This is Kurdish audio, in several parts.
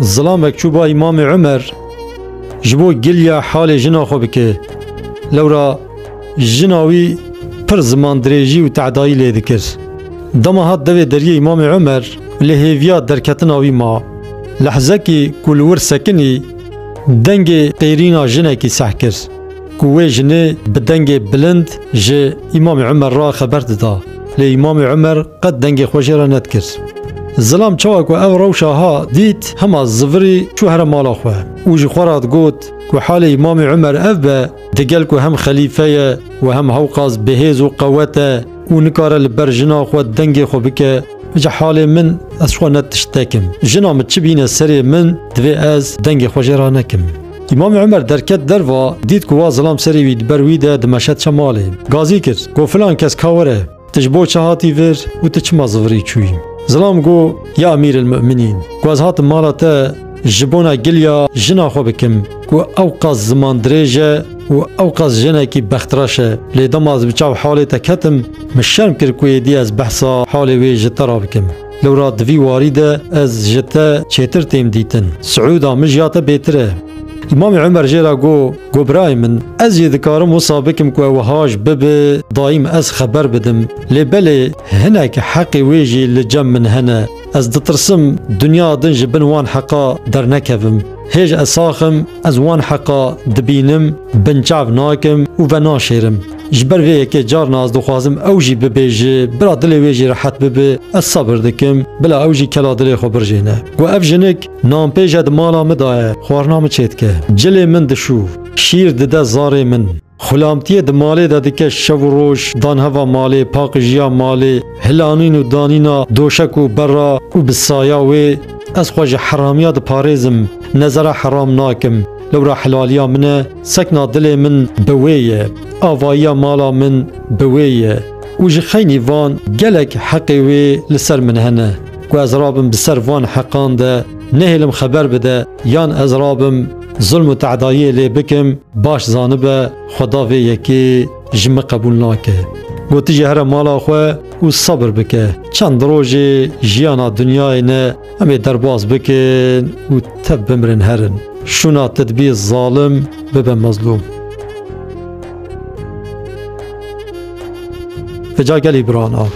Zilamek çû ba Îmamê Umer ji bo giliya halê jina xwe bike. Lewra jina wî pir ziman dirêjî û tehdayî lê dikir. Dema hat devê deriyê Îmamê Umer li hêviya derketina wî ma. Lehzekî ku li wir sekinî dengê pêrîna jinekî seh kir. ku wê jinê bi dengê bilind ji Îmamê Umer re xeber dida. Lê Îmamê Umer qet dengê xwe jê re nedikir. Zilam çawa ku ev rewşa ha dît hema zivirî çû here mala xwe û ji xwe re digot ku halê Îmamê Umer ev be digel ku hem xelîfe ye û hem hewqas bihêz û qewet e û nikare li ber jina xwe dengê xwe bike ji halê min ez xwe ne tişt tekim. Jina min çi bîne serê min divê ez dengê xwe jê re nekim. Îmamê Umer derket derva, dît ku wa zilam serê wî di ber wî de dimeşe diçe malê. Gazî kir, got filan kes ka were, tu ji bo çi hatî vir û tu çima zivirî çûyî? Zilam got, ya Emîrelmûminîn, ku ez hatim mala te ji bona giliya jina xwe bikim ku ewqas zimandirêj e û ewqas jinekî bextreş e, lê dema ez bi çav halê te ketim, min şerm kir ku êdî ez behsa halê wê ji te re bikim. Lewra di vî warî de ez ji te çêtir têm dîtin. Siûda min ji ya te bêtir e. Îmamê Umer jê re got, Got birayê min, ez jî dikarim wisa bikim ku ew haj bibe dayîm ez xeber bidim. Lê belê hinek heqê wê jî li cem min hene. Ez ditirsim dinya din ji bin wan heqa dernekevim. Hêj ez sax im, ez wan heqa dibînim, binçav nakim û venaşêrim. Ji ber vê yekê carna ez dixwazim ew jî bibêje, bila dilê wê jî rehet bibe, ez sebir dikim, bila ew jî kela dilê xwe birjêne. Got ev jinik, nanpêj e di mala min da ye, xwarina min çêdike. Cilê min dişû, şîr dide zarê min. Xulamtiyê di malê de dike şev û roj, danheva malê, paqijiya malê, hilanîn û danîna doşek û berra û bi saya wê ez xwe ji heramiya diparêzim, nezera heram nakim, lewra helaliya min e, Sekna dilê min bi wê ye, avayiya mala min bi wê ye û ji xeynî van gelek heqê wê li ser min hene ku ez rabim bi ser van heqan de nehêlim xeber bide yan ez rabim zulm û tedayiyê lê bikim baş zanibe xweda vê yekê ji min qebûl nake. Gotijî here mala xwe û sebir bike. Çend rojê jiyana dinyayê ne Em ê derbas bikin û tev bimirin herin. Şûna te dibî zalim bibe mezlûm. Te ca gelî birana.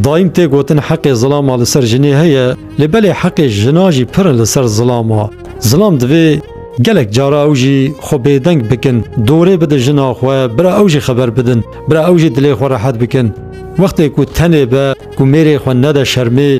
Dayîm tê gotin heqê zilama li ser jinê heye lê belê heqê jina jî pir in li ser zilama. Zilam divê gelek cara ew jî xwe bêdeng bikin, dorê bidin jina xwe, bira ew jî xeber bidin, bira ew jî dilê xwe rehet bikin. Wextê ku tenê be, ku mêrê xwe nede şermê,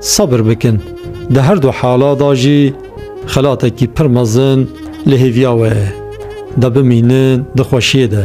Sebir bikin, di her du hala de jî xelatekî pir mezin li hêviya we ye, de bimînin di xweşiyê de.